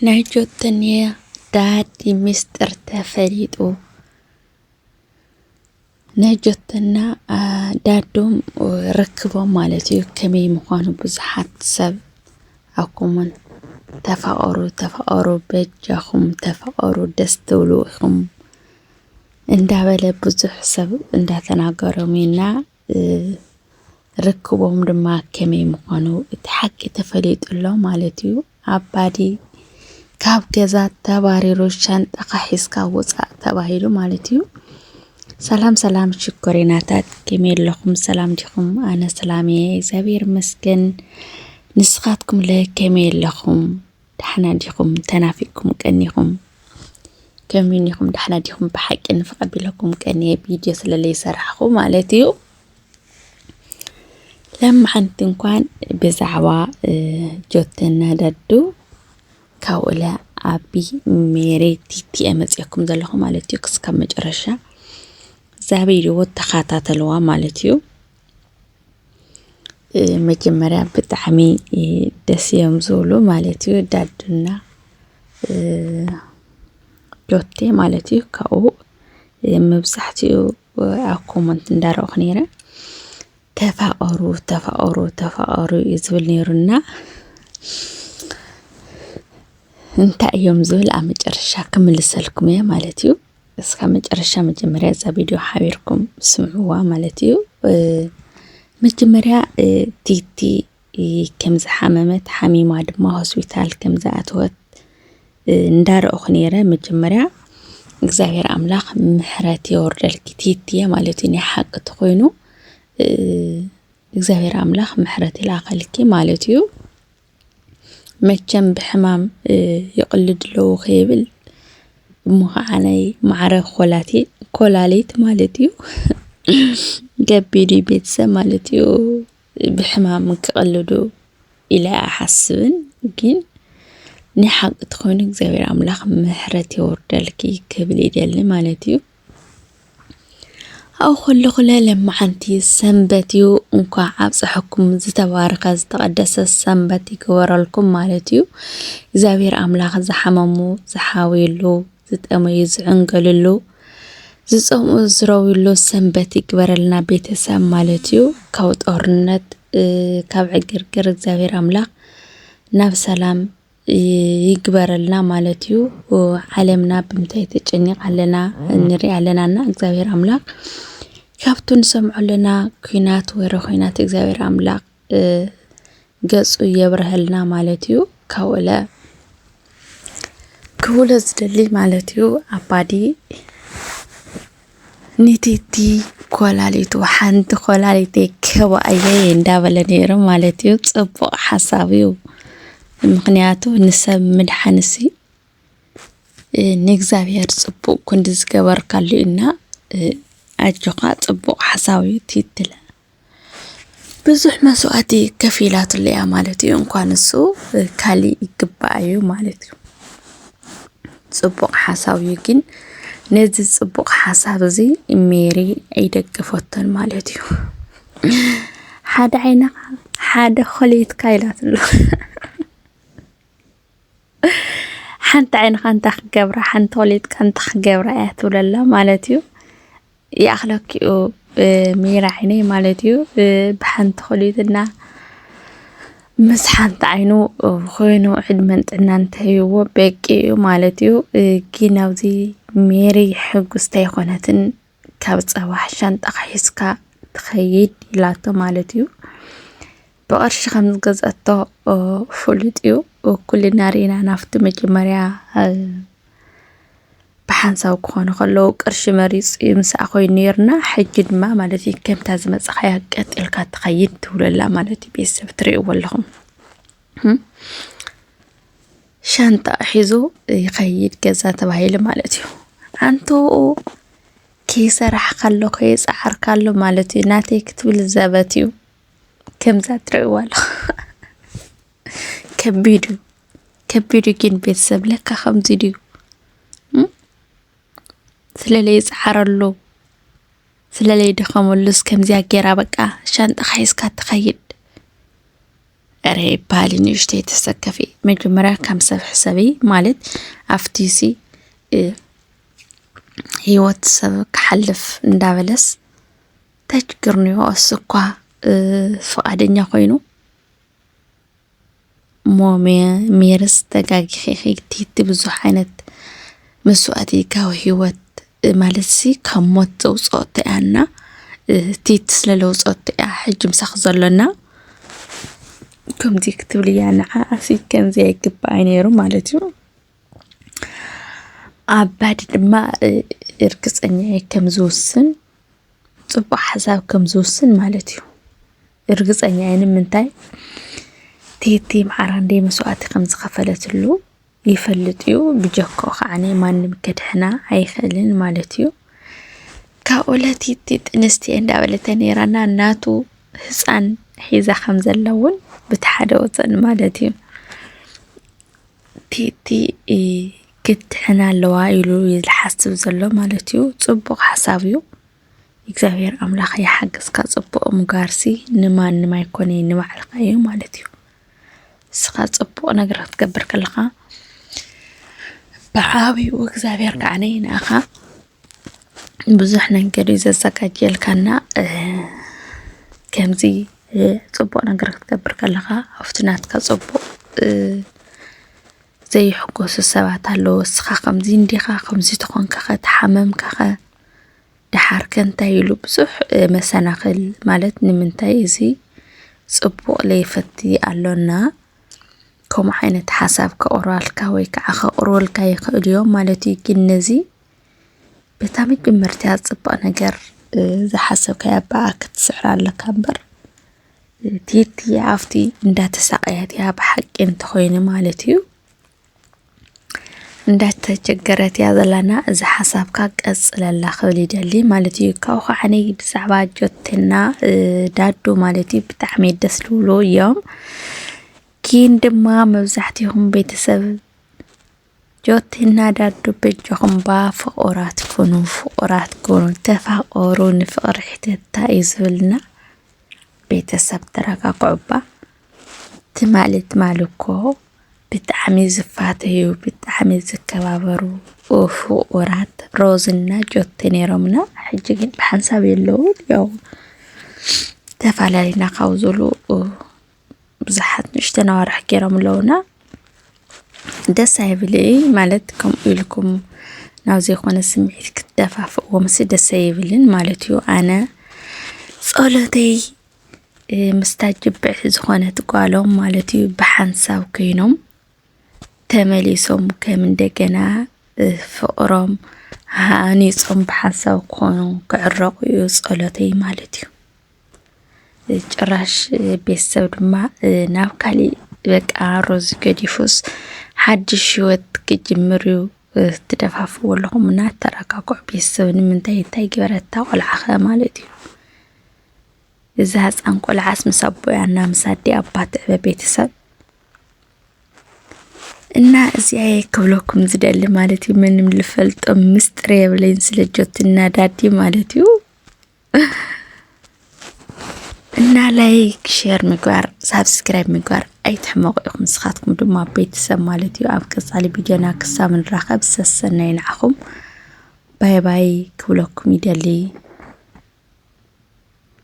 ናይ ጆተንየ ዳዲ ሚስጥር ተፈሊጡ ናይ ጆተና ዳዶም ርክቦም ማለት እዩ ከመይ ምዃኑ ብዙሓት ሰብ ኣብ ኮመንት ተፋቐሩ ተፋቐሩ በጃኹም ተፋቐሩ ደስ ትብሉ ኢኹም እንዳበለ ብዙሕ ሰብ እንዳተናገሮም ኢና ርክቦም ድማ ከመይ ምዃኑ እቲ ሓቂ ተፈሊጡ ኣሎ ማለት እዩ። ኣባዲ ካብ ገዛ ተባሪሩ ሻንጣኻ ሒዝካ ውፃእ ተባሂሉ ማለት እዩ። ሰላም ሰላም ሽኮሪናታት ከመይ ኣለኹም? ሰላም ዲኹም? ኣነ ሰላም እየ እግዚኣብሔር ይመስገን። ንስኻትኩም ለ ከመይ ኣለኹም? ዳሕና ዲኹም ተናፊቅኩም ቀኒኹም ከመይ ኒኹም ዳሕና ዲኹም ብሓቂ ንፍቐቢለኩም ቀኒየ ቪድዮ ስለለይ ሰራሕኹ ማለት እዩ ለማሓንቲ እንኳን ብዛዕባ ጆተና ዳዱ ካብኡለ ኣቢ ሜሬ ቲቲ መፅኩም ዘለኹ ማለት እዩ ክስካብ መጨረሻ ዛበይድዎ ተኸታተልዋ ማለት እዩ መጀመርያ ብጣዕሚ ደስ እዮም ዝብሉ ማለት እዩ ዳድና ዶቴ ማለት እዩ ካብኡ መብዛሕትኡ ኣብ ኮመንት እንዳረእኹ ነይረ ተፋቐሩ ተፋቐሩ ተፋቐሩ እዩ ዝብል ነይሩና እንታይ እዮም ዝብል ኣብ መጨረሻ ክምልሰልኩም እየ ማለት እዩ እስካብ መጨረሻ መጀመርያ እዛ ቪድዮ ሓቢርኩም ስምዕዋ ማለት እዩ። መጀመርያ ቲቲ ከም ዝሓመመት ሓሚማ ድማ ሆስፒታል ከም ዝኣተወት እንዳረእኹ ነይረ። መጀመርያ እግዚኣብሔር ኣምላኽ ምሕረት የወርደልኪ ቲቲየ ማለት እዩ። ናይ ሓቂ ተኮይኑ እግዚኣብሔር ኣምላኽ ምሕረት ይላኸልኪ ማለት እዩ። መቸም ብሕማም ይቕልድ ኣለዉ ከይብል እሞ ከዓ ናይ ማዕረ ኮላሊት ማለት እዩ ገቢዱ ቤተሰብ ማለት እዩ ብሕማም ክቕልዱ ኢለ ኣይሓስብን ግን ናይ ሓቂ ተኾይኑ እግዚኣብሔር ኣምላኽ ምሕረት የውርደልኪ ክብል ይደሊ ማለት እዩ። ኣብኡ ከለኹ ለለማዓንቲ ሰንበት እዩ እንኳዕ ኣብፀሐኩም ዝተባረከ ዝተቀደሰ ሰንበት ይግበረልኩም ማለት እዩ እግዚኣብሔር ኣምላክ ዝሓመሙ ዝሓውይሉ ዝጠመዩ ዝዕንገልሉ ዝፀምኡ ዝረውይሉ ሰንበት ይግበረልና ቤተሰብ ማለት እዩ ካብ ጦርነት ካብ ዕግርግር እግዚኣብሔር ኣምላክ ናብ ሰላም ይግበረልና ማለት እዩ። ዓለምና ብምንታይ ተጨኒቕ ኣለና ንርኢ ኣለና እና እግዚኣብሔር ኣምላኽ ካብቱ ንሰምዖ ኣለና ኩናት ወረ ኩናት እግዚኣብሔር ኣምላኽ ገጹ የብረሀልና ማለት እዩ። ካብኡለ ክብሎ ዝደሊ ማለት እዩ ኣባዲ ንቲቲ ኮላሊቱ ሓንቲ ኮላሊተይ ከባኣየይ እንዳበለ ነይሩ ማለት እዩ። ጽቡቕ ሓሳብ እዩ። ምክንያቱ ንሰብ ምድሓንሲ ንእግዚኣብሔር ጽቡቕ ክንዲ ዝገበርካሉ እና ኣጆኻ ጽቡቕ ሓሳብ እዩ ቲቲ። ብዙሕ መስዋእቲ ከፊላትሉ እያ ማለት እዩ። እንኳን እሱ ካሊእ ይግባኣ እዩ ማለት እዩ። ፅቡቕ ሓሳብ እዩ ግን ነዚ ፅቡቕ ሓሳብ እዚ ሜሪ ኣይደገፈቶን ማለት እዩ። ሓደ ዓይንኻ ሓደ ኮሌትካ ኢላትሉ ሓንቲ ዓይንኻ እንታይ ክገብራ ሓንቲ ኮሌትካ እንታይ ክገብራ እያ ትብለላ ማለት እዩ። ይኣኽለኪ'ዩ ብሚራ ዓይነይ ማለት እዩ ብሓንቲ ኩሊትና ምስ ሓንቲ ዓይኑ ኮይኑ ዕድመን ጥዕናን እንተህይዎ በቂ እዩ ማለት እዩ ግን ኣብዚ ሜሪ ሕጉስቲ ኣይኮነትን ካብ ፀባሕ ሻንጣ ሒዝካ ትኸይድ ኢላቶ ማለት እዩ ብቐርሺ ከም ዝገዝኣቶ ፍሉጥ እዩ። ኩልና ርኢና ናብቲ መጀመርያ ብሓንሳብ ክኾኑ ከለዉ ቅርሺ መሪፅ እዩ ምስኣ ኮይኑ ነይርና ሕጂ ድማ ማለት እዩ ከምታ ዝመፀኻያ ቀጥ ኢልካ ትኸይድ ትብለላ ማለት እዩ ቤተሰብ ትርእይዎ ኣለኹም ሻንጣ ሒዙ ይኸይድ ገዛ ተባሂሉ ማለት እዩ ኣንተኡ ከይሰራሕካ ኣሎ ከየፀዓርካ ኣሎ ማለት እዩ ናተይ ክትብል ዘበት እዩ ከምዛ ትርእይዎ ኣለኹም ከቢድ እዩ ከቢድ እዩ ግን ቤተሰብ ለካ ከምዚ ድዩ ስለለይ ይፅዓረሉ ስለለይ ደኸመሉስ ከምዚያ ጌራ በቃ ሻንጣኻ ሒዝካ ትኸይድ ኧረ ይበሃል ንእሽተይ ተሰከፊ መጀመርያ ከም ሰብ ሕሰቢ ማለት ኣብቲ ሲ ህይወት ሰብ ክሓልፍ እንዳበለስ ተችግርንዮ ኣስኳ ፍቓደኛ ኮይኑ እሞ ሜርስ ተጋጊኺኺ ቲቲ ብዙሕ ዓይነት መስዋእቲ ካብ ህይወት ማለት ሲ ካብ ሞት ዘውፅኦቶ እያና ቲቲ ስለ ለውፅኦቶ እያ ሕጂ ምሳኺ ዘሎና ከምዚ ክትብል እያ ንዓኣሲ ከምዚ ኣይግባኣ ነይሩ ማለት እዩ ኣባዲ ድማ እርግፀኛ እየ ከም ዝውስን ፅቡቅ ሓሳብ ከም ዝውስን ማለት እዩ እርግፀኛ እየ ንምንታይ ቴቴ መዓራንዴ መስዋእቲ ከም ዝኸፈለትሉ ይፈልጥ እዩ ብጀኮ ከዓኒ ማንም ከድሕና ኣይኽእልን ማለት እዩ ካብኡ ለቲቲ ጥንስቲ እየ እንዳበለተ ነይራና እናቱ ህፃን ሒዛ ከም ዘላ እውን ብቲ ሓደ ወፀን ማለት እዩ ቲቲ ክትድሕን ኣለዋ ኢሉ እዩ ዝሓስብ ዘሎ ማለት እዩ። ጽቡቕ ሓሳብ እዩ። እግዚኣብሔር ኣምላኽ ይሓግዝካ። ጽቡቕ ምጋርሲ ንማንም ኣይኮነ ንባዕልኻ እዩ ማለት እዩ። ንስኻ ጽቡቕ ነገር ክትገብር ከለኻ ብዓብኡ እግዚኣብሔር ከዓ ንኣኻ ብዙሕ ነገር እዩ ዘዘጋጀልካና ከምዚ ጽቡቕ ነገር ክትገብር ከለኻ ኣብቲ ናትካ ጽቡቕ ዘይሕጎሱ ሰባት ኣለዉ እስኻ ከምዚ እንዲኻ ከምዚ ተኾንካኸ ተሓመምካኸ ደሓርከ እንታይ ኢሉ ብዙሕ መሰናኽል ማለት ንምንታይ እዚ ጽቡቕ ለይፈቲ ኣሎና ከምኡ ዓይነት ሓሳብ ከቕርባልካ ወይ ከዓ ከቕርበልካ ይኽእሉ እዮም ማለት እዩ። ግን ነዚ በታ መጀመርታ ጽቡቕ ነገር ዝሓሰብካያ ብኣ ክትስዕራ ኣለካ እምበር ቲቲ ኣብቲ እንዳተሳቀየት እያ ብሓቂ እንተኾይኑ ማለት እዩ እንዳተቸገረት እያ ዘላና እዚ ሓሳብካ ቀፅለላ ክብል ይደሊ ማለት እዩ ካብኡ ከዓ እኔ ብዛዕባ ጆቴና እ፣ ዳዱ ማለት እዩ ብጣዕሚ ደስ ዝብሉ እዮም ኪን ድማ መብዛሕትኹም ቤተሰብ ጆቲ እና ዳዱ በጃኹም እባ ፍቁራት ኩኑ ፍቁራት ኩኑ ተፋቀሩ ንፍቅሪ ሕተታ እዩ ዝብልና ቤተሰብ ተረጋግዑ እባ ትማሊ ትማሊ እኮ ብጣዕሚ ዝፋተዩ ብጣዕሚ ዝከባበሩ ፍቁራት ሮዝና ጆቲ ነይሮምና ሕጂ ግን ብሓንሳብ የለውን ያው ተፈላለና ካብ ዝብሉ ብዙሓት ንእሽተን ኣዋርሕ ገይሮም ኣለውና ደስ ኣይብል ማለት ከምኡ ኢልኩም ናብ ዘይኮነ ስምዒት ክትደፋፍእዎ ምስ ደስ ኣይብልን ማለት እዩ ኣነ ጸሎተይ ምስታ ጅብዕቲ ዝኾነት ጓሎም ማለት እዩ ብሓንሳብ ኮይኖም ተመሊሶም ከም እንደገና ፍቕሮም ሃኒፆም ብሓንሳብ ክኾኑ ክዕረቑ እዩ ጸሎተይ ማለት እዩ ጭራሽ ቤተሰብ ድማ ናብ ካሊእ በቃ ሮዚ ገዲፉስ ሓድሽ ሂወት ክጅምር እዩ ትደፋፍዎ ኣለኹም እና ተረጋግዑ። ቤተሰብ ንምንታይ እንታይ ገበረታ ቆልዓ ኸ ማለት እዩ። እዚ ህፃን ቆልዓስ ምስ ኣቦኣ እና ምስ ኣዲኣ እባ ትዕበ ቤተሰብ እና እዚኣ ክብለኩም ዝደሊ ማለት እዩ። ምንም ልፈልጦም ምስጢር የብለይን ስለ ጆትና ዳዲ ማለት እዩ። እና ላይክ ሼር ምግባር ሳብስክራይብ ምግባር ኣይትሕመቑ ኢኹም ንስኻትኩም ድማ ቤተሰብ ማለት እዩ ኣብ ቀፃሊ ቪድዮና ክሳብ ንራኸብ ሰሰናይ ንዓኹም ባይ ባይ ክብለኩም ይደሊ